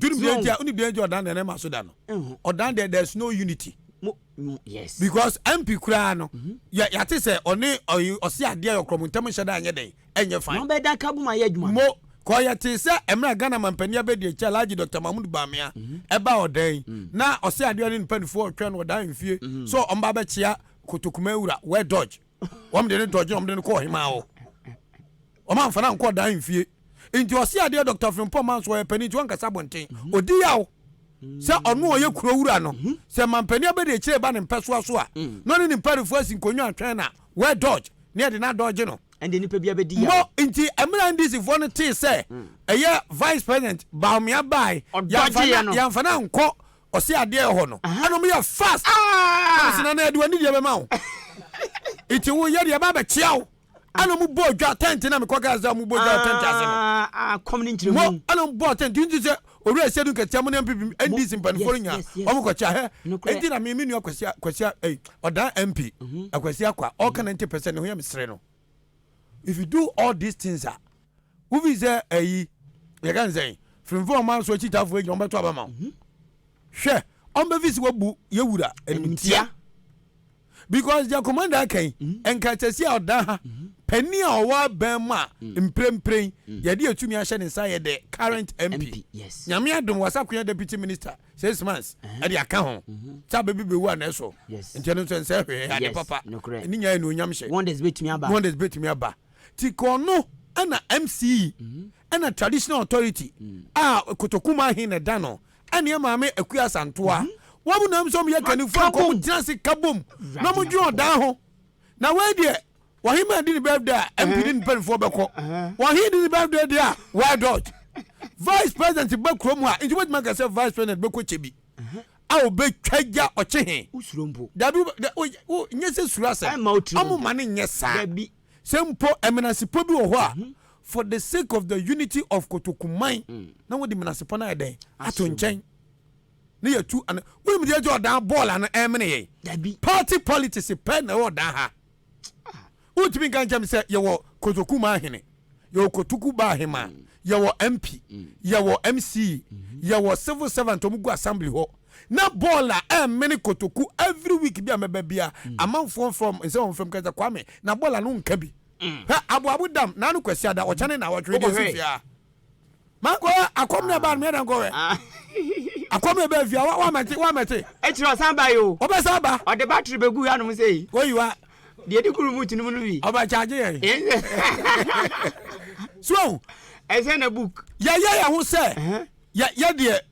duru bia ntia oni bia ntia ɔdan deɛ ne ma so da no ɔdan deɛ there's no unity yes because mp koraa no mhm. yɛ yɛate sɛ ɔne ɔse adeɛ yɛ ɔkorɔmo ntam nhyɛ da anyɛ dɛn ɛnyɛ fine na ɔbɛda ka bom ayɛ adwuma mo kɔ yɛ te sɛ mmerɛ ghana mampanin abɛdi akyɛ alagye dr mahmud bamea mhm. ɛba ɔdan mm. na ɔse adeɛ ne mpanimfoɔ ɔtwɛn no ɔdan mfie mhm. so ɔmba bɛkyea kotokuma awura wɛ dodge wɔn de ne dodge na wɔn de ne kɔ ɔhemaa hɔ Wɔamfa no ankɔ ɔdan mfie. Nti ɔse adeɛ Doctor Frimpong ma nso ɔyɛ panin nti ɔnkasa abɔnten. Ɔdi yaw sɛ ɔno ɔyɛ kuro wura no. Sɛ mampanin abɛdi akyire reba ne mpɛsoa so a, na ɔne ne mparifoɔ asi nkonnwa atwɛn na wɛ dodge na yɛde no adodge no. Ɛnde nipa biara bɛdi yaw. Mmɔ nti mmerɛ NDC foɔ no tee sɛ ɛyɛ Vice President Bawumia baae, yɛamfa no ankɔ ɔse adeɛ hɔ no, ɛna wɔyɛ fast. Once na na yɛde w'anidie bɛma wo. Nti wo yɛ deɛ yɛba abɛkyea wo. ɛna ɔmo bɔ dwa tɛnti na mekɔ gas dɛ ɔmo bɔ dwa tɛnti ase no akɔm ne nkyerɛ mu mo ɛna ɔmo bɔ tɛnti nti sɛ owura ɛsɛ dun kɛtɛ mo ne mpp ndc mpanimfoɔ no nyinaa ɔmo kɔ kyɛ hɛ ɛnti na mi mi nua kwasia kwasia ɛyi ɔdan mp akwasia mhm. kwa ɔka mhm. ninety percent ne ho yɛ mesere no if you do all these things a wofi sɛ ɛyi yɛ ka nsɛn firimfo ɔmo aso akyitafoɔ egyina ɔmo bɛto abama mhm. hwɛ ɔmo bɛ fi si wabu yɛ wura ɛnum tia. because deɛ commander aka yi nka tɛsi a ɔda ha panin a ɔwɔ abɛn mu a mprempren yɛde atumi ahyɛ ne nsa yɛ the current mp nyame adom wasakoya deputy minister six months ɛde aka ho sɛ abɛbi bɛwu a na ɛso nti ɛno nso ɛnsɛ hwee ade papa ɛne nya anuonyam hyɛ wonders bɛtumi aba ti kɔɔ no ɛna mce ɛna traditional authority a kotokuma he na ɛda no ɛneɛ maame Akua Asantoa. Mhm. Wɔn na nso yɛ kanifo a wɔn tena ase ka bom na wɔn dwen ɔdan ho. Na wei deɛ wɔhema di ne birthday a eh. MP ne ne mpanimfoɔ bɛkɔ. Eh, eh. Wɔhe di ne birthday deɛ a why dodge. Vice president bɛ kurom a nti wobɛtumi aka sɛ vice president bɛkɔ kyɛ bi a obɛtwa gya ɔkye he. Dabi nyɛ sɛ suro asɛm. Ɔmo ma ne nyɛ saa. Sɛ mpo Menasepɔ bi wɔ hɔ a, for the sake of the unity of Kotoku man, na wɔde Menasepɔ no ayɛ dɛn? Ato nkyɛn. Ne yɛtu ana. Wonim deɛ ɛgye ɔdan bɔɔla no ɛmene yɛn? Party politics pɛ na ɛwɔ ɔdan ha. Wotumi nka nkyɛn sɛ yɛwɔ Kotoku man hene, yɛwɔ Kotoku ba ahemaa, yɛwɔ MP, yɛwɔ MC, yɛwɔ civil servant wɔn gu assembly hɔ. Na bɔɔl a ɛmene kotoku every week bi a mɛba bia amanfoɔ nfrɛ wɔn nsɛ wɔn frɛ mu ka sɛ Kwame na bɔɔl ano nka bi hɛ aboabo dam na ano Kwasiada ɔkyɛ ne nawɔtwe deɛ si fie a mankɔ hɛ akɔm na ɛbaa no mɛda nkɔ hɛ akɔm na ɛbaa fie a wa mɛte wa mɛte ɛkyerɛ ɔsan ba yi o ɔbɛsan ba ɔde battery bɛgu yɛ anom sɛ yi oyi wa deɛ di kuru mu tunu mu no bi ɔbɛ charge yɛn so ɛsɛ na book yɛyɛ yɛ ho sɛ yɛ yɛ deɛ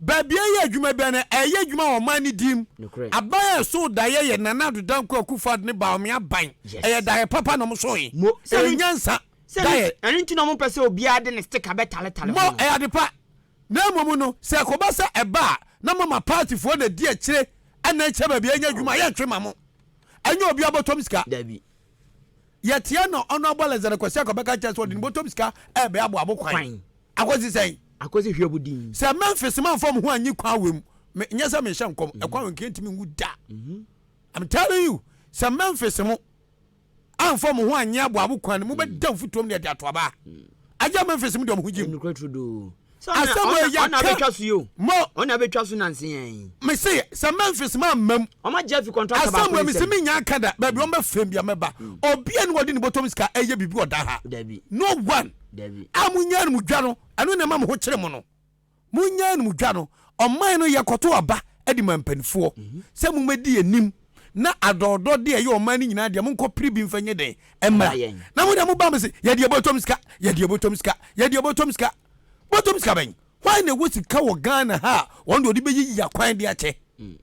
Baabi a ɛyɛ adwuma biara no, ɛreyɛ adwuma wɔ ɔman no din mu. Aban a ɛsoo daeɛ yɛ Nana Addo Dankwa Akufo-Addo ne Bawumia aban. Ɛyɛ daeɛ papa na wɔsoo yɛn. Mo, Sɛ no nyansa. Daeɛ. Ɛno nti na wɔmpɛ sɛ obiara de ne sticker bɛtaletale ho. Mo, Ɛyɛ ade pa. Na mmom no, sɛ ɛkɔba sɛ ɛba a, na mama partyfoɔ na ɛdi akyire na ɛkyɛ baabi a yɛnyɛ adwuma a, yɛntwe mma mo. Ɛnyɛ obiara bɔtɔm sika. Dabi. Yɛteɛ na ɔno abɔ Lazaro Kwasi akɔ bɛka kyerɛ sɛ ɔde ne bɔtɔm sika ɛɛbɛ abɔ abo kwan. Kwan. Akosi sɛn? Akosi hwɛ bu din. Sɛ Memphis manfa me ho anyi kwan wɛ mu, me, nyɛ sɛ mehyɛ nkɔm, ɛkwan wɛ nka ntumi nwu da. I'm telling you, sɛ Memphis mo anfa mo ho anyi abɔ abo kwan no, mobɛda mfutuom na yɛde ato aba. Agya Memphis mo de ɔmo ho gyim. Ɛnukura turodoo. asɛm wei yɛ ɔna bɛtwa so yi o mo ɔna bɛtwa so nansi yɛn. me se sɛ memphis ma mmam. ɔma jeffy kɔntrata baako asɛm wei mese menya nka da baabi ɔn bɛfrɛ bia mɛba mm. obia ne wɔde ne bɔtɔm sika ɛyɛ biribi ɔda ha dabi no one dabi a monya anom dwa no ɛno na ɛma mo ho kyere mo no monya anom dwa no ɔman no yɛkɔto aba de ma mpanimfoɔ mhm. sɛ momɛdi anim na adɔɔdɔ deɛ ɛyɛ ɔman no nyinaa deɛ monkɔ pere bi mfa nyɛ dɛn ɛmmra na mo deɛ mo ba mo se yɛ deɛ bɔtɔm sika yɛ deɛ bɔtɔm sika yɛ deɛ bɔtɔm sika bɔtɔm sika bɛn hwan na ɛwɔ sika wɔ Ghana ha a wɔn deɛ ɔde bɛyɛ yi akwan de akyɛ hmm.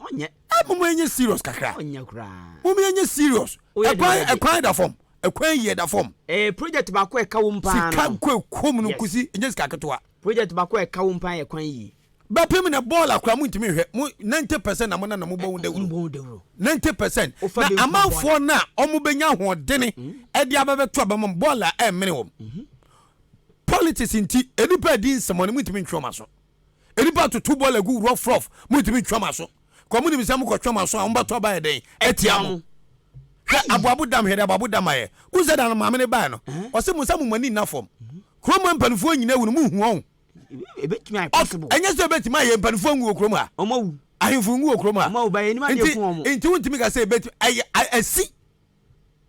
ɔnyɛ ɛ mo mo ɛnyɛ serious kakra ɔnyɛ koraa mo mo ɛnyɛ serious ɛkwan ɛkwan da fam ɛkwan yɛ da fam ɛɛ project baako ɛka wɔn paa no sika kɔ ɛkɔm no nkosi ɛnyɛ sika ketewa Project bako a ɛka wo mpo ayɛ kwan yie. Bɛpem na bɔɔl a koraa mo ntumi nhwɛ mo ninety percent na mo nana mo bɔ ho dawuro. Mo bɔ ho dawuro. Ninety percent. Na amanfoɔ no a wɔn bɛnya ahoɔdene ɛde aba bɛto aba mo bɔɔl a ɛmmene wɔn. Politics nti nnipa adi nsɛmɔne mo ntumi ntwe wɔn aso. Nnipa atoto bɔɔl agu rough rough mo ntumi ntwe wɔn aso. Kɔ mo nim sɛ mo kɔ twe wɔn aso a wɔn bɛto aba yɛ dɛn ɛtia mo. Hwɛ aboabo dam hwɛ de aboabo dam ayɛ. Wosɛ da no maame ne baa no. Ɔsɛ mo nsa mo mo ani nna fam. Kurom ha mpanimfoɔ nyina awu no mo nhu ɔn. Ebetumi ayɛ possible. Ɔf ɛnyɛ sɛ ebetumi ayɛ mpanimfoɔ nwu wɔ kurom ha. Wɔn awu. Ahemfo nwu wɔ kurom ha. Wɔn awu ba yɛn anim adeɛ ku wɔn. Nti wontumi ka sɛ ebetumi ɛyɛ asi.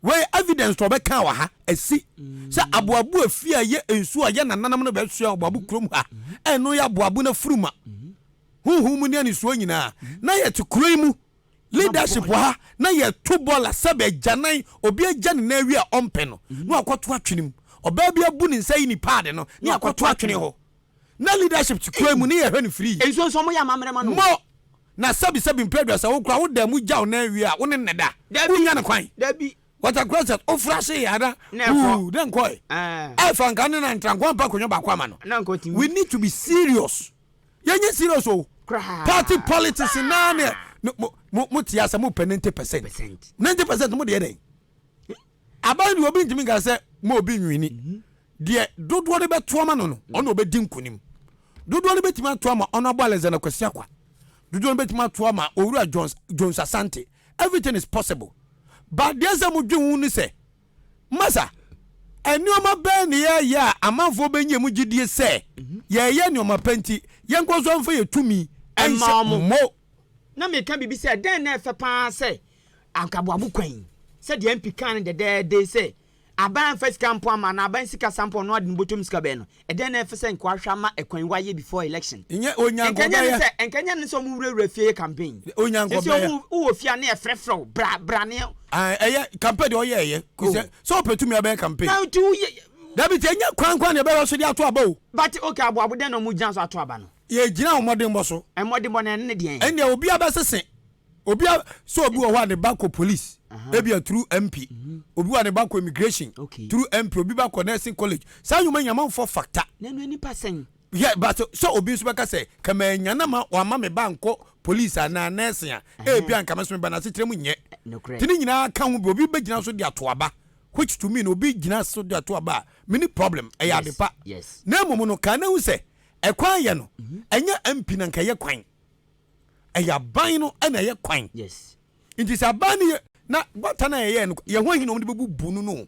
Wei evidence to ɔbɛka wɔ ha asi. Sɛ aboabo efie a ɛyɛ nsuo a ɛyɛ nananam no bɛsoa aboabo kurom ha. Ɛno yɛ aboabo no afuru ma. Honhom mu ne anisuo nyinaa. Na yɛte kuro yi mu Leadership wɔ ha na yɛ to bɔɔl a sɛbi agyanan obi agya ne nan awie a ɔmpɛ no na wakɔ to atwene mu ɔbaa bi abu ne nsa ayi ne paadi no na yɛakɔ to atwene hɔ na leadership te kwan mu ne yɛhwɛ no firi Nsuo nso wɔyɛ amammerɛ ma no o. Mo na sɛbi sɛbi mprɛ aduasa wo kura wo dan mu gyaw nan awie a wo ne ne da Dabi wo nya no kwan dabi. Water closet wo fra hye yɛ a na Na ɛkɔ ooh dɛn kɔɛ ɛɛ. ɛɛfa nka ne na ntra nko ampa akonnwa baako ama no Na nka ɔtumi. we need to be serious yɛnyɛ serious o party politics naa ne mo te asɛ mo pɛ ninety percent ninety percent mo deɛ dɛn aban deɛ obi ntumi nka sɛ mo obi nwini mhm. deɛ dodoɔ no bɛto ama no no mhm. ɔna ɔbɛdi nkonim dodoɔ no bɛtumi ato ama ɔno abɔ alexander kwasi akwa dodoɔ no bɛtumi ato ama owura jones jones asante everything is possible but deɛ sɛ mo dwe ho ne sɛ Masa, nneɛma bɛn na yɛyɛ a amanfoɔ bɛnya mu gyidie sɛ yɛreyɛ nneɛma pa nti, yɛnkɔ so mfa yɛn tumi nhyɛ mo? Na meka biribi sɛ, Dɛn na ɛfɛ pa ara sɛ anka aboabo kwan yi? Sɛdeɛ MP kaa no dɛdɛɛdɛ yi sɛ, Aban amfa sika ampɔn ama anaa aban sikasɛm ampɔn no ade no bɔtɔ mu sika bɛn no? Ɛdɛn na ɛfɛ sɛ nka wahwɛ ama ɛkwan wayɛ before election? Nyɛ Onyanko bɛyɛ. Nka nyɛ ne sɛ nka nyɛ ne sɛ ɔmo wura wura fie yɛ campaign. Nyɛ Onyanko bɛyɛ. Sɛsɛ ɔmo wowɔ fie a ne yɛ frɛ frɛ wo bra bra ne. Ae ɛyɛ campaign deɛ ɔyɛ ɛyɛ kò sɛ oh. sɛ ɔpɛ tumi abɛyɛ campaign. Na nti woyɛ. Dabi ti ɛnyɛ kwan kwan na ɛbɛyɛ so de ato aba o. But okay aboabo dɛn na ɔmo gyina so ato aba no. Yɛ gyina ɔmɔdenbɔ so. Ɛmɔdenbɔ no ɛne ne deɛn. Ɛndeɛ obiara bɛsese obi a so obi wɔ hɔ a ne ba kɔ police ebi a through mp mhm. obi wɔ a ne ba kɔ immigration through mp obi ba kɔ nursing college saa nnwuma nyama nfɔ factor. n'anu nipa sɛn. yɛ bato sɛ obi nso bɛka sɛ kama enya na ma wama me ba nkɔ police anaa nursing a ebi a nkama so me ba na asetere mu nyɛ eh, tini nyinaa ka ho bi obi bɛ gyina so de ato aba which to mean obi gyina so de ato aba a mini problem ɛyɛ adepa na mmom no kan na ehu sɛ ɛkwan yɛ no mhm. ɛnyɛ mp na nka yɛ kwan. ɛyɛ aban no ɛna ɛyɛ kwan nti sɛ aban no yɛ na gutter no a yɛyɛ no yɛn ho ahi na wɔn de bɛbubu no no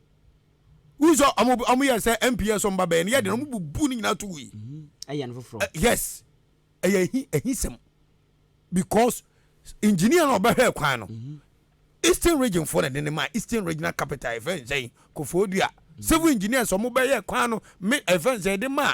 wúni sɛ ɔmo ɔmo yɛ sɛ mps ɔmo ba bɛyɛ no yɛ de na ɔmo bubu no nyinaa to wui ɛyɛ no foforɔ yes ɛyɛ ɛhi ɛhi sɛm because engineer na ɔbɛhwɛ kwan no eastern region fo na de ne ma eastern regional capital ɛfɛ nsɛn kofoɔ dua civil engineers ɔmo bɛyɛ kwan no me ɛfɛ nsɛn de ma.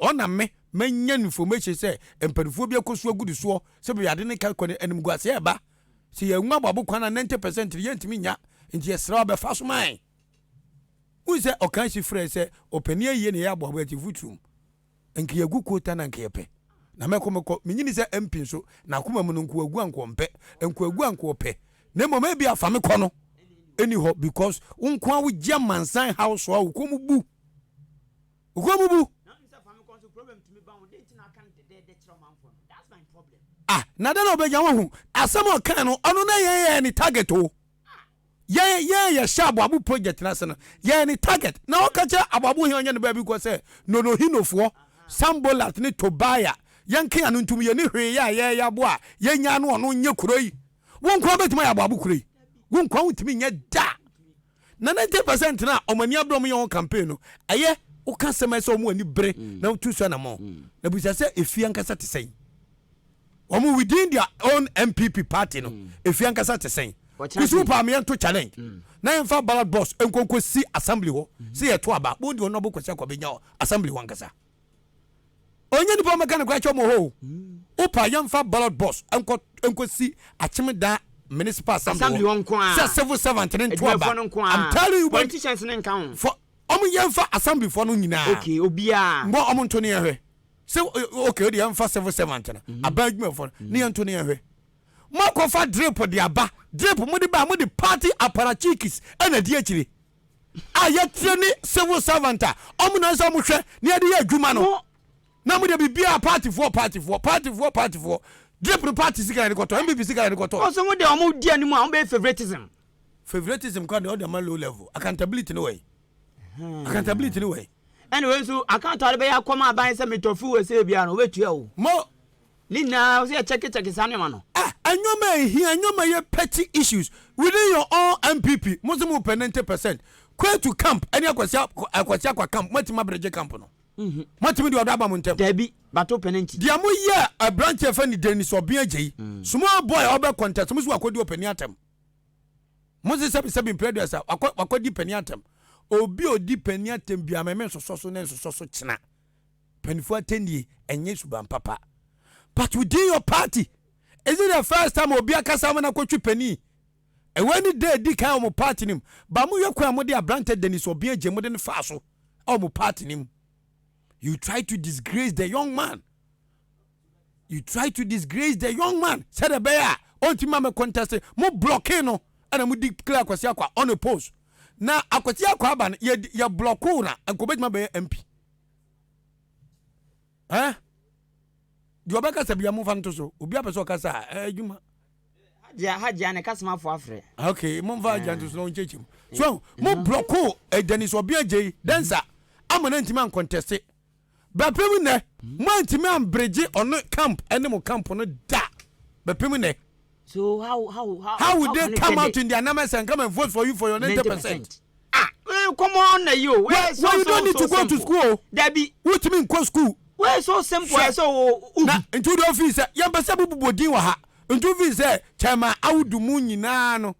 Ɔna me manya information sɛ mpaninfoɔ bi akɔ so agu ne soɔ sɛ baabi ade no ka kɔ no animguaseɛ ɛba sɛ yɛn nwa aboabo kwan a 90 percent no yɛntumi nya nti yɛsrɛ wo bɛfa so ma yɛn wohu sɛ ɔka si frɛ sɛ ɔpani ayie na yɛ aboabo akyi futurum nka yɛgu kota na nka yɛpɛ na mɛkɔ mɛkɔ menyini sɛ mpi nso na akoma mu no nko agu anko ɔmpɛ nko agu anko ɔpɛ na mmom ebi afa me kɔ no ɛni hɔ because wo nko a wogye amansan haw so a wokɔ mu bu Ohuabubu! Ah, na dɛn na ɔbɛnya wahu? Asɛm a ɔkae no, ɔno na yɛn yɛyɛ ne target o. Yɛn yɛn yɛhyɛ aboabo project no ase no, yɛyɛ ne target. Na ɔka kyerɛ aboabo hene ɔnyɛ ne baabi kɔ sɛ, Nonohinofoɔ, Sanbolat ne Tobia, yɛnke ano ntom, yɛnni hwee yɛ a yɛyɛ abo a yɛnyaa no ɔno nyɛ kuro yi. Wo nko ara bɛtumi ayɛ aboabo kuro yi. Wo nkoa wontumi nyɛ da. Na ninety percent na wɔn ani abere wɔn yɛ wɔn campaign no ɛyɛ woka asɛm a ɛsɛ wɔn ani bere mm. na wotu so anamɔ mm. na bisa sɛ efi ankasa te sɛn wɔn within their own npp party no mm. efi ankasa te sɛn kusu paami yɛn to challenge na yɛn fa ballot box nkonko si assembly hɔ sɛ yɛ to aba wɔn di wɔn abo kɔsi akɔbɛ nya assembly hɔ ankasa. ɔnyɛ nipa ɔmɛka no koraa kyɛ ɔmɔ hɔ wopa yɛmfa ballot box nkɔ nkɔsi akyem daa municipal assembly hɔ nko a sɛ civil servant ne nto aba I'm telling you politicians ne nka ho for ɔmo yɛmfa assembly fɔ no nyinaa okay obiara mbɔ ɔmo nto ne yɛhwɛ sɛ okay ɔde yɛmfa civil servant no mhm. aba adwuma fɔ no ne yɛnto ne yɛhwɛ mo akɔfa drip de aba drip mo de ba mo de party aparachikis ɛna di akyire a yɛteɛ ne civil servant a ɔmo na sɛ ɔmo hwɛ ne yɛde yɛ adwuma no na mo de biribiara paatifoɔ paatifoɔ paatifoɔ paatifoɔ drip no party sika na yɛde kɔtɔ npp sika na yɛde kɔtɔ. ɔsɛ mo de ɔmo di anim a ɔmo bɛyɛ favoritism. favoritism kwan de ɔde ama low level accountability ne wɔyi accountability ne wɔyi. ɛna wei nso account a ɔde bɛyɛ akɔma aban sɛ metɔ fuel sɛ ebi ano ɔbɛtua o. mo. Ne nyinaa sɛ yɛ check check saa nneɛma no. Ah nneɛma a ɛhia, nneɛma ɛyɛ petty issues within your own NPP, mo se mo pɛ 90 percent, Kwetu camp ɛne Akwasi Akwasi Akwa camp, moatumi abregye camp no? Moatumi de ɔdɔ aba mo ntɛm? Dabi, but wopɛ no nti. Deɛ mo yɛɛ abranteɛ fɛ ne Dennis Obeng Agyei, small boy a ɔbɛ contest, mo se wakɔdi ɔpanin atɛm? Mo se sɛbi sɛbi Mprɛduas a wakɔ wakɔdi panin atɛm? Obi a ɔdi panin atɛm biara me mensosɔ so na nsosɔ so kyena Mpanyinfoɔ atɛnnie ɛnyɛ suban papa but within your party is it the first time obi akasa ama no akɔtwe panin? Ɛwei ne da ɛdi kan wɔ mo party no mu but mohwɛ kwan a mode abrantɛ Dennis Obeng Agyem mode no faa so wɔ mo party no mu you try to disgrace the young man you try to disgrace the young man sɛdeɛ ɛbɛyɛ a ɔntumi ma me contest mo blocking no ɛna mo declare Akwasi Akwa on a post na Akwasi Akwa aba no yɛ yɛ blocking na nkɔbɛtumi abɛyɛ MP. eh deɛ ɔbɛkasa bia momfa nto so obi apɛ sɛ ɔkasa a eh, adwuma hagya ne kasamafo afrɛ ok momfa hagya nto so na ɔnkyɛkyɛ mu so mo blɔko ɛdani so ɔbea gyei dɛnsa ama no antimi ankɔntɛse bɛpem nnɛ moantimi amberegye ɔno camp ɛne mo camp no da bɛpem nnɛ So how how how how would they come out in their numbers and come and vote for you for your ninety percent. ah eh, come on na yi o. wẹ́ẹ́ so so so simple. wẹ́ẹ́ you don't need to go to school o. dabi. wotumi nkɔ school. wẹ́ẹ́ so simple ẹ sọ o. na ntu de ofi sẹ yẹn pẹ sẹ bubu bọ din wọ ha ntu fi sẹ chairman awudu mu nyinaa no.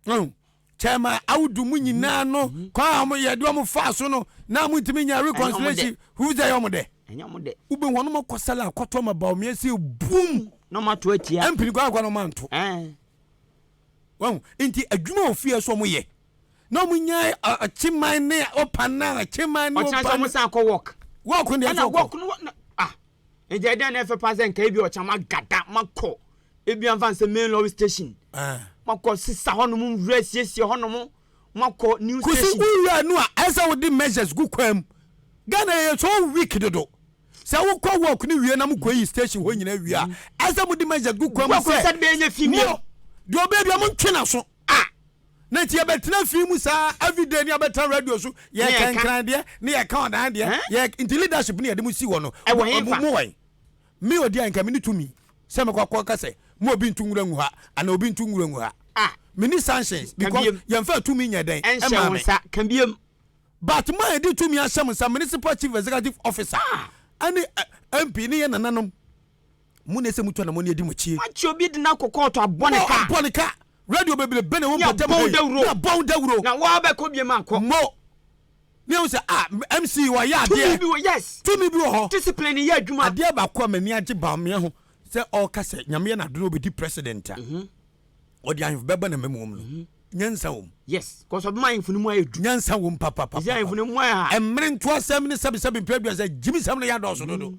Mm. kyɛma awodu mu nyinaa no mm-hmm. kwan a wɔyɛ de wɔn faa so no na wɔn ntumi nya reconciliation fufu sɛ ɛyɛ wɔn dɛ ɛnyɛ wɔn dɛ wobɛ wɔn wɔn kɔ sɛlɛ akɔtɔ ma bawo mmiɛnsa ebum na wɔn ato atia ɛmpini kɔ akɔ na wɔn anto wɔn nti adwuma wɔ fie so wɔn yɛ na wɔn nya akyeman ne ɔpan na akyeman ne ɔpan ɔkyerɛ sɛ wɔn san akɔ wɔk wɔk ne ɛna wɔk no ah Nti ɛdeɛn na ɛfɛ paa sɛ nka ebi ɔkyena magada makɔ ebi anfa nsɛ main lorry station ah. makɔ sisa hɔnom nwura siesie hɔnom makɔ new station. kusi wura nu a ɛsɛ wodi measures gu kwan mu ghana yɛ so weak dodo sɛ wokɔ work no wie na mokɔ yi station hɔ nyina wie a ɛsɛ modi measures gu kwan mu sɛ mo deɛ ɔbɛdua mo ntwe na so ah. na nti yɛbɛtena fie mu saa everyday ne abɛtena radio so yɛka nkran deɛ ne yɛka ɔdan deɛ yɛ nti leadership ne yɛde mu si hɔ no mo wɛn me odi a nka me ne tumi sɛ mekɔ akɔ ka sɛ mo obi ntu nwura ngu ha ana obi ntu nwura ngu ha ah. me ne sanctions because yɛmfa tumi nyɛ dɛn ɛma me but ma yɛde tumi ahyɛ mo nsa municipal chief executive officer ɛne ah. eh, mp ne yɛ nananom Mo na ɛsɛ mutu anamɔne adi mo akyi. Wɔakye obi de no akɔ kɔɔto abɔ ne ka. Mo abɔ ne ka. Radio bebrebe na ɛwɔ mpɔtam ha yi. Ne abɔ wo dawuro. Ne abɔ wo dawuro. Na wo ara bɛkɔ biem ankɔ. Mo. Ne ɛho sɛ ah MC wayɛ adeɛ. Tumi bi wɔ yes. Tumi bi wɔ hɔ. Discipline yɛ adwuma. Adeɛ baako a m'ani agye Bawumia ho sɛ ɔreka sɛ Nyame yɛ n'ado na ɔbɛdi president a. Ɔde ahemfo bɛba n'amamuo mu no. Nyansa wɔ mu. Yes. Cause ɔbɛma ahemfo no mu ayɛ du. Nyansa wɔ mu papapapa. Ɛsɛ ahemfo no mu ayɛ ha. Mmere ntoasɛm ne sɛbesɛbe mpɛ aduasa gyimisɛm no yɛ adɔɔso dodo.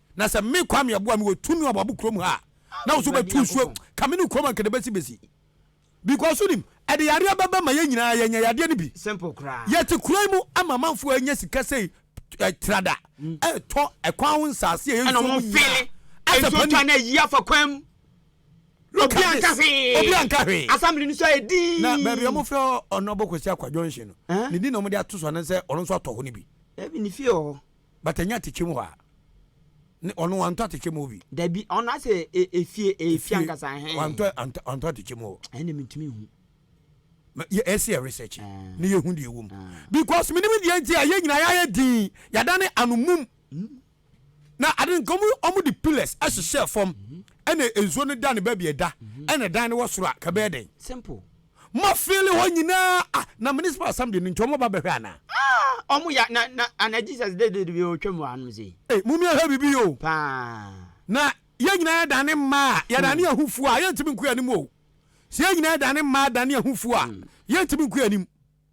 Na sɛ me Kwame Aboa me wɔ tumi wɔ abɔbo kurom ha a, na wo so bɛtu nsuo ka me ne kurom anka de bɛsi bɛsi. Because wonim, ɛde yareɛ bɛba ma yɛn nyinaa yɛanya yadeɛ no bi. Simple koraa. Yɛte kuro yi mu ama amanfoɔ anya sika sei trada ɛretɔ ɛkwan ho nsaase a ɛyɛ nsuo mu nyinaa. Ɛna wɔn fili nsuo twa no ayi afa kwan mu. Look at this. Obi anka hwee. Assembly no so ayɛ dii. Na baabi a wɔfrɛ hɔ Ɔnɔbo Kwasi Akwa Junction no, ne din na wɔde ato so anaasɛ ɔno nso atɔ hɔ no bi. Dabi ne fie wɔ hɔ. But ɛnyɛ atɛkyɛ mu hɔ a ne ɔno wantɔ atɛkyɛ mu hɔ bi. Dabi ɔno asɛ e, efie e, efie ankasa hɛn. Wantɔ antɔ antɔ atɛkyɛ mu hɔ. Ɛna mi ntumi hu. Ma yɛ ɛsɛ yɛ research ah. ne yɛ hu deɛ ɛwɔ mu ah. because mi ni mi deɛ nti a yɛ nyinaa yɛ ayɛ din yada ne ano mum mm. na adi nka ɔmo ɔmo de pillars mm. ɛhyehyɛ fam mm-hmm. ɛna nsuo no da ne baabi ɛda mm-hmm. ɛna dan no wɔ soro a kabɛɛ dɛn. simple. Mo fili hɔ nyinaa ah na municipal assembly no nti ɔmo ba bɛhwɛ anaa. Ah ɔmo ya na na ana Jesus de de de otwa mu anom sei. Ei mum yɛ hwɛ bibi oo. Paa. Na yɛn nyinaa yɛ dane mmaa a yɛ dane yɛn ho fuo a yɛntumi nko yɛn anim o. Sɛ yɛn nyinaa yɛ dane mmaa dane yɛn ho fuo a yɛntumi nko yɛn anim.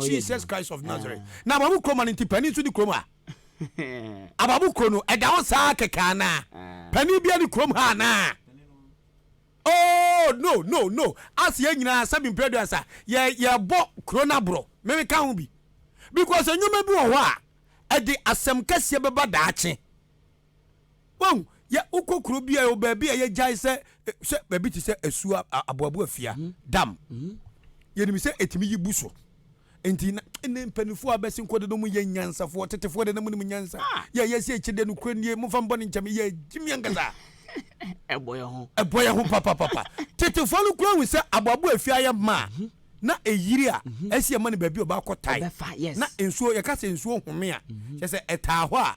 Jesus Christ of Nazareth. Ah. Na ababu kuro ma no nti panin nso ni kurom ha. ababu kuro no ɛda hɔ saa kɛkɛ anaa? Ah. Panin bia ni kurom ha anaa? Oh no no no ase yɛ nyinaa sɛbi mpɛrɛdu asa yɛ yɛbɔ kuro no aborɔ meme ka ho bi because nneɛma bi wɔ hɔ a ɛde asɛm kɛseɛ bɛba daakye Wahu? Yɛ wokɔ kuro bi a yɛ baabi a yɛgyae sɛ sɛ baabi te sɛ asuo aboaboa fia mhm. dam. Mhm. Yɛnim sɛ ɛtumi yi bu so. Nti na ne mpanimfoɔ a bɛsi nkɔ dodo mu yɛ nyansafoɔ tetefoɔ de na mu nim nyansa. Ah. Yɛ yɛ si akyi de nokorɛ nie mo fa mbɔ ne nkyɛn yɛ gyimi ankasa. Ɛbɔ yɛ ho. Ɛbɔ yɛ ho papapapa. Tetefoɔ no kura hu sɛ aboaboa afie ayɛ maa. Mhm. na eyiri a ɛsi ɛma no baabi ɔba akɔ tae na nsuo yɛka sɛ nsuo home a kyɛ sɛ ɛtaa hɔ a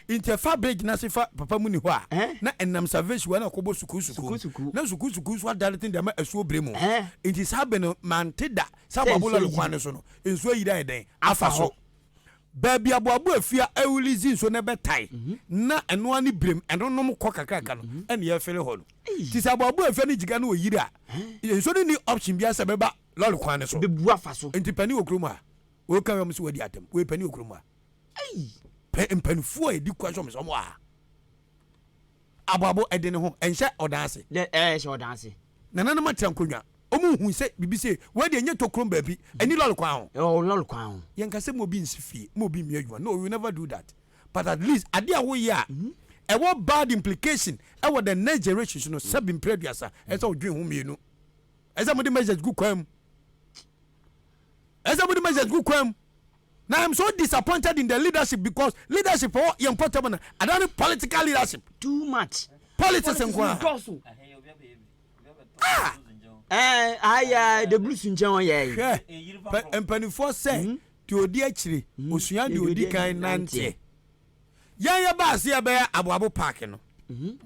Nti ɛfa bere gyinase fa papa mu ni hɔ a, na ɛnam salvation wɔ na ɔkɔbɔ sukuu sukuu, na sukuu sukuu nso adane tene de ama asuo bere mu. Nti saa bere no mante da sɛ aboabo lɔre kwan no so no nsuo ayiri ayɛ dɛn afa so. Baabi aboabo afi a ɛrelease nsuo na ɛbɛtae na ɛno ara ne birem ɛnonom kɔ kakraka no ɛne yɛrefele hɔ no. Nti sɛ aboabo afi ne gyiga no ɔyiri a, nsuo no nni option biara sɛ ɛbɛba lɔre kwan no so. Nti panin wɔ kurom a, woka wei a wɔn se wadi atam, wei panin wɔ kurom a. Ei! Pɛ mpanimfoɔ a ɛdi kwan sɛ wɔn sɛ wɔn wɔ ha. Aboabo ɛde ne ho ɛnhyɛ ɔdan ase. Dɛ ɛɛ ɛhyɛ ɔdan ase. Nananom atea nkonnwa. Wɔn nhu sɛ biribi sei. Wei deɛ ɛnyɛ tokrom baabi. Ɛni lɔre kwan ho. Ɛwɔ lɔre kwan ho. Yɛn ka sɛ mo obi nsi fie, mo obi mmie adwuma. No, we will never do that. But at least adeɛ a woyɛ a ɛwɔ bad implication ɛwɔ the next generation so no, sɛbi mpere aduasa, ɛsɛ sɛ wodwen ho mmienu. Ɛsɛ sɛ mode measures gu kwan mu. Ɛsɛ sɛ mode measures gu kwan mu. Now I'm so disappointed in the leadership because leadership ɔ yɛ mpɔtam na ada ne political leadership. Too much. Politics nko a. Dɔɔso. Ah! Ɛɛ aya de bulu si nkyɛn wɔn yɛ. Hwɛ mpanimfoɔ sɛ deɛ ɔdi akyire osua deɛ ɔdi kan nanteɛ. Yɛn yɛbaa se yɛbɛyɛ aboabo park no,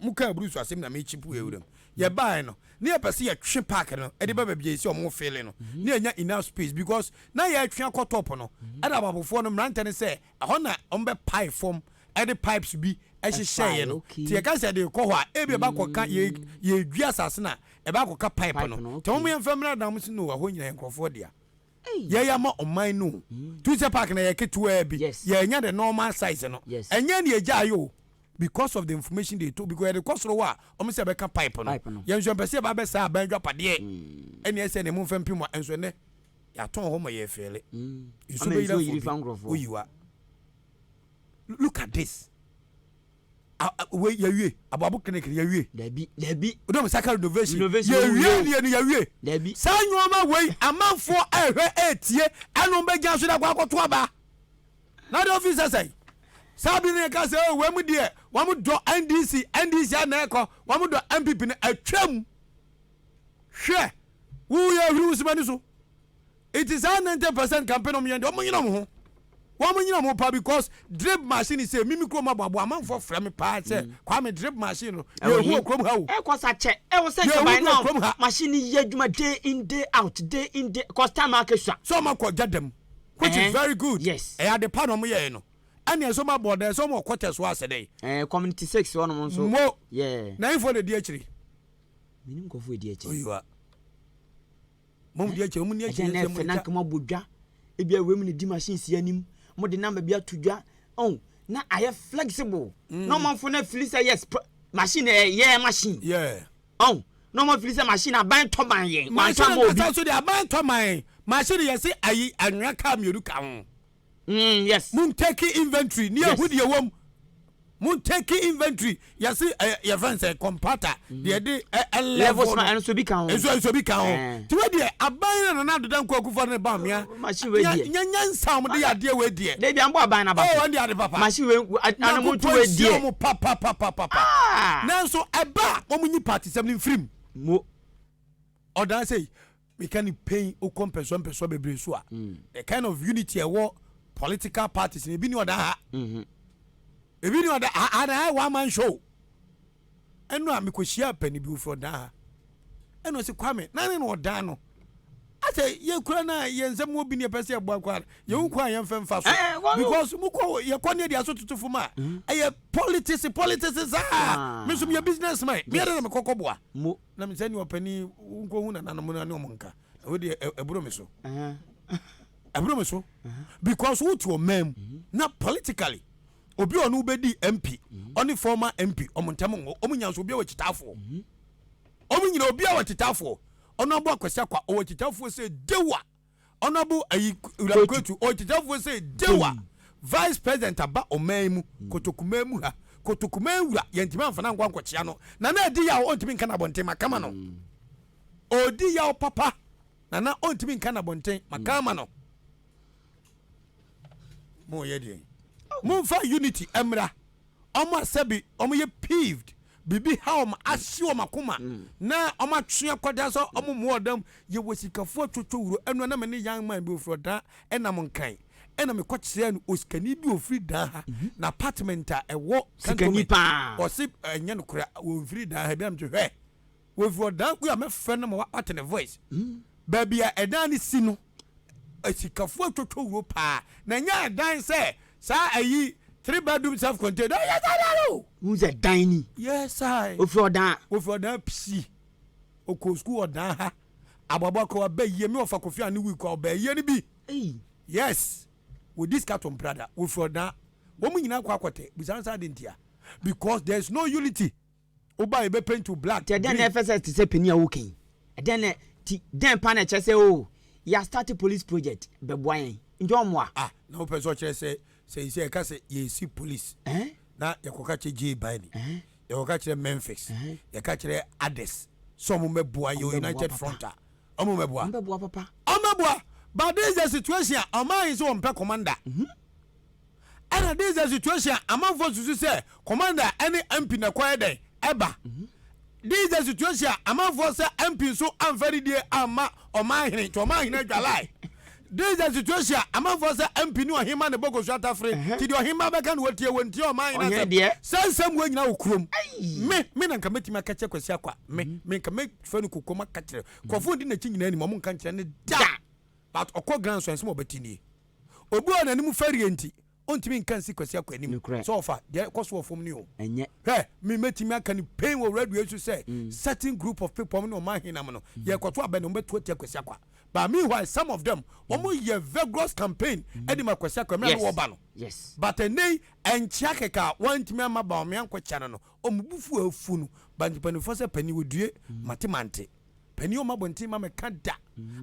mo kaa bruce asem na me chip ewura mu. Yɛbaaɛ no, na yɛpɛ se yɛtwe park no de ba baabi a yɛse ɔmo fele no, na yɛanya enough space because na yɛretwe akɔ top no. Ɛna aboabofoɔ no mmerantɛ no sɛ ɛhɔ na ɔmo bɛ pae fɔm de pipes bi hyehyɛeɛ no. Nti yɛkae sɛ yɛde rekɔ hɔ a, ebia ɛbɛakɔka, yɛ, yɛredwi asase no a, ɛbɛakɔka pipe no. Nti ɔmo yɛmfa mmra, na ɔmo se no, ɛhɔ nyina yɛ nkorɔfoɔ dea. yɛyɛ ama ɔman no o tu sɛ park na yɛ ketewaa bi yɛnya the normal size no ɛnyɛ ne yɛgya yɛ o because of the information they told because yɛde kɔ soro hɔ a wɔn sɛ bɛka pipe no yɛn nso mpɛ sɛ yɛba bɛ saa aban adwapadeɛ mm. ɛne ɛsɛ ne mu mfa mpim a nso ɛnɛ yɛatɔn hɔ ma yɛ fɛlɛ mm. nso bɛyira fo bi oyiwa look at this. wei yɛwie aboabo clinic no yɛwie dabi dabi wodɛ mo saka renovation yɛwie deɛ no yɛwie dabi saa nneɛma wei amanfoɔ ɛhwɛ ɛtie ɛno bɛgya so dakɔ akɔto aba na de ofi sɛ sɛn saa bi no yɛka sɛ oh, wei mu deɛ wɔn dɔ ndc ndc ana ɛkɔ wɔn dɔ mpp no atwam hwɛ woyɛ hwiri wo sima ni so Iti saa ninety percent kampe nom yɛn deɛ ɔmo nyina ɔmo ho wɔn nyina ɔmo pa because drip machine sɛ mimi kurom aboabo amanfoɔ frɛ me paa sɛ mm. kwame drip machine no yɛ ehu okurom ha o ɛkɔ sa kyɛ ɛwɔ sɛ nka by now machine ni yɛ adwuma day in day out day in day cause time ake sua so ɔmo akɔ gya dɛm which is eh, very good yes ɛyɛ ade pa na ɔmo yɛ no ɛna ɛsɛ ɔmo abɔ dɛ ɛsɛ ɔmo ɔkɔtɛ so asɛ dɛ ɛɛ eh, community six wɔn mo nso mo yɛ na info na edi akyiri minim nkɔfo edi akyiri oyiwa. Mo mu bi akyɛ, mo ni akyɛ yɛ sɛ mo na nka mo abɔ dwa. Ebi a wɛm na di machine si anim. Mo de number bi ato dwa. Oh, na ayɛ flexible. Mm. Na ɔmanfo na fili sɛ yes, machine eh, yeah, machine. Yeah. Oh, na ɔman fili sɛ machine aban tɔ man yɛn. Machine na sa so de aban tɔ man. Machine yɛ se ayi anwea ka mmienu ka ho. Mm yes. Mo ntake inventory ni ehu deɛ wɔm. Mo ntake inventory yɛsi ɛ eh, yɛ fɛn sɛ kɔmpata mm-hmm. deɛ de ɛ eh, ɛ levels ma ɛnso bi kan ho. Ɛnso ɛnso bi kan ho. Eh. Tiwɛ deɛ aban na nana adoda nkɔ akufo ne ban mia. Oh, machine wɛ deɛ. Nya nya nsa wɔn de yɛ adeɛ wɛ deɛ. Debi an bɔ aban na ba so. Oh ɛn de ade papa. Machine wɛ anamu tu wɛ deɛ. Nanko pɔ nsia papa papa papa. Ah. Nanso ɛba wɔn nyi paati sɛm ni nfirim. Mo. Ɔdan sɛ yi. Meka no pɛn wokɔ mpɛsoa mpɛsoa bebree so a, the kind of unity ɛwɔ political parties no, ebi ni ɔda ha, ebi ni ɔda ha, and I one man show. Ɛno a mekɔhyia apani bi ofiri ɔdan ha, ɛna ɔsi Kwame, na ne na ɔdan no. Asɛ yɛkura no a yɛn nsɛm wɔ bi ne yɛpɛ sɛ yɛboa kɔ a, yɛwu kɔ a yɛmfa mfa so. Because mokɔ yɛkɔ ne yɛde aso tutu fam a, ɛyɛ politics politics saa. Me nso meyɛ businessman, meyɛ dɛ na mekɔkɔboa. Na me sɛ nea ɔpɛ ni wo nkɔ hu nananom no ne wɔn nka na wei deɛ ɛboro me so ɛboro me so because wo te ɔman mu mhm. na politically obi ɔno wobɛdi mp mhm. ɔne former mp ɔmo ntɛm nwɔ ɔmo nya nso obi a wɔkyitaafoɔ mhm. ɔmo nyina obi a wɔkyitaafoɔ ɔno abɔ akwasi akwa ɔwɔ kyitaafoɔ sɛ dewa Honourable ayi Wura Kwetu ɔyɛ Titefoɔ sɛ Dewa Vice President aba ɔman yi mu Kotokumaa mu ha Kotokumaa Wura yɛntumi amfa no ankɔ ankɔkyea no Nana adi yaw ɔntumi nka n'abɔnten maka ama no Ɔredi yaw papa Nana ɔntumi nka n'abɔnten maka ama no Moyɛ deɛn? Momfa unity mmra wɔn a sɛbi wɔyɛ peeved, biribi ha wɔn, ahye wɔn akoma, na wɔatwe akwadaa sɛ wɔmmɔ ɔdam. Yɛwɔ sikafoɔ atwotwo wuro. Ɛno na me ne young man bi ɔfiri Ɔdaa nam Nkan, ɛnna mekɔkyerɛɛ no osikani bi a ɔfiri Daa ha, n'apartment a ɛwɔ Cantonment. Ɔse, Ɛnyɛ nokorɛ, wɔmfiri Daa ha. Ebia mete hwɛ! Wɔfiri ɔdan koro a mɛfrɛ no ma wɔate ne voice. Baabi a ɛdan no si no, asikafoɔ atwotwo wuro paa. Na ɛnyɛ ɛdan sɛ saa ayi three bedroom self contained. Ɛyɛ saa dan o. Wohu sɛ dan ni. Yes I. Wɔfiri ɔdan. Wɔfiri ɔdan psi. Ɔkɔɔ sukuu ɔdan ha. Aboaboa kɔ aba yie me ɔfa kofi ane wii kɔ ɔba yie no bi. Yes. Wɔdi sika to mprada. Wɔfiri ɔdan. Wɔn nyinaa kɔ akɔtɛ. Busa nsa ade ntia. Because there is no unity. Wo ba yi bɛ paint wo black, green. Nti ɛdɛn na ɛfɛ sɛ ɛte sɛ panin a woka yi? Ɛdɛn na ti dɛn paa na ɛkyerɛ sɛ oo yɛ astarte police project bɛboa yɛn? Nti ɔmmoa? Ah na wopɛ sɛ ɔkyerɛ sɛ sɛisɛi ɛka sɛ yɛresi police Ɛhɛn. na yɛkɔka kyerɛ Jay Bailey, Ɛhɛn. yɛkɔka kyerɛ Memphis, Ɛhɛn. yɛka kyerɛ others sɛ ɔmo mmɛboa yɛ Ɔmo bɛboa United papa. Front a, ɔmo mmɛboa? Ɔmo bɛboa papa. Ɔmo bɛboa but this is the situation a ɔman yi sɛ wɔmpɛ commander. Ɛna this the situation a amanfoɔ susu sɛ commander ɛne MP na kɔyɛ dɛn ɛba. This the situation a amanfoɔ sɛ MP nso amfa ne die amma ɔman hene nti ɔman hene adwalae. This the situation a amanfoɔ sɛ MP ne ɔhema ne bɔkɔsu atafere nti deɛ ɔhema bɛka no wɔtie wɔn ntie ɔman hene Ɔhene asɛm. deɛ. Saa nsɛm wɔ nyina wɔ kurom. Me me na nka mɛtumi aka kyerɛ Kwasi Akwa me me nka mɛfa no kokoam aka kyerɛ. Nkurɔfoɔ di n'akyi nyinaa nim ɔmo nka nkyerɛ no da. But ɔkɔ grand so ɛnsɛm a ɔbɛte nie. Obi a n'anim fɛreɛ nti ɔntumi nka nsi Kwasi Akwɛ anim Nokorɛ. sɛ ɔfa deɛ ɛkɔ so wɔ fam no o. Ɛnyɛ. Hwɛ, me mɛtumi aka no pain wɔ radio yi so sɛ certain group of people, wɔn ne wɔn ahenam no, yɛrekɔto abɛn no, wɔbɛto atia Kwasi Akwa. But meanwhile some of them, wɔyɛ vigorous campaign de ma Kwasi Akwa mmerɛ a na Yes, wɔreba no. yes. But ɛnnɛ yi, ɛnkyea kɛkɛ a wɔantumi amma Bawumia ankɔkyɛ no no, wɔn bo fu afu no. But mpanimfoɔ sɛ panin, wɔdue, mate mante. Panin ɔma abɔnten ma meka da.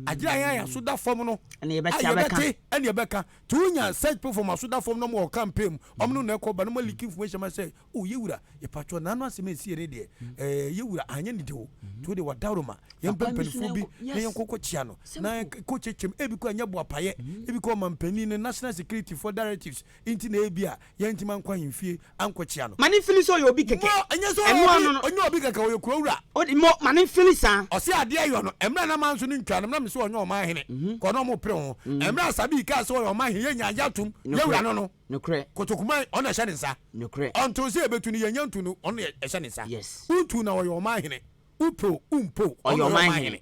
Agyere ayɛ ayɛ aso da fam no. Ɛna yɛbɛte ayɛ bɛte ɛna yɛbɛka. Ti wonya search people from aso da fam no wɔ campaign mu. Ɔmo no na ɛkɔ ba no mo leak information ma sɛ o yɛ wura yɛpatwɔ n'ano asɛm esi yɛ ne deɛ ɛɛ yɛ wura anyɛ ne deɛ o. Ti wo de wadaworo ma yɛn mpɛ mpanyinfoɔ bi na yɛn kɔkɔ kyia no na kɔ kyekyem ebi kɔ ɛnyɛ boapayɛ ebi kɔ ɔmampanin ne national security for directives Nti na ebia yɛrentumi ankɔ ahemfie ankɔkyia no. Ma ne mfili sɛ ɔyɛ obi kɛkɛ. Mo, ɛnyɛ sɛ ɔyɛ obi, ɔnyɛ obi kɛkɛ, ɔyɛ kurawura. Odi, mo, ma ne mfili saa. Ɔse adeɛ yɔ no, ɛmerɛ a na manso ne ntwaa no, na mese ɔnyɛ ɔman hene, kɔ na ɔmo pere ho. Ɛmerɛ a Sabi kaa sɛ ɔyɛ ɔman hene, yɛnyaa agya tom, yɛwura no no. Nokorɛ. Kotokuman, ɔno na ɛhyɛ ne nsa. Nokorɛ. Ɔntoo sɛ yɛbɛtu no, yɛnnya ntu no, ɔno na ɛhyɛ ne nsa. Yes. Wontuu na ɔyɛ ɔman hene, wopɛ o, wompɛ o, ɔno na ɔyɛ ɔman hene.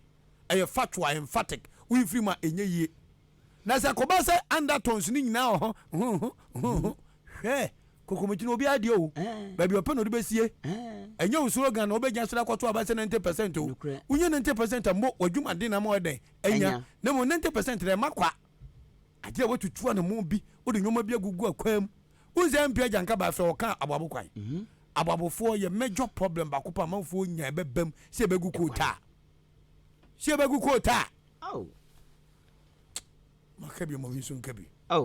Ɛyɛ factual, emphatic, wonfiri mu a ɛnyɛ yie. Na sɛ ɛkɔba sɛ undertones no nyinaa wɔ ho, ho, ho, ho, ho, hwɛ, kokomiti na obiara deɛ o, baabi ɔpɛ na ɔde bɛsie. Ɛnyɛ wo slogan na wobɛgyina so de akɔto aba sɛ 90 percent o. Wonya 90 percent a, mmo w'adwumaden na ama woayɛ dɛn? Anya. Na mmom 90 percent no, ɛma kwa. Agye a woatutu anammɔn bi, wode nneɛma bi agugu akwan mu. Wohu sɛ MP Agya Nka baa fie a, ɔkaa aboabo kwan. Aboabofoɔ yɛ major problem baako paa a amanfoɔ nya a ɛbɛbam sɛ ɛbɛgu koota a. sɛ yɛbɛgu kootaa. Ao. Maka bi ɔmɔ bi nso nka bi. Ao.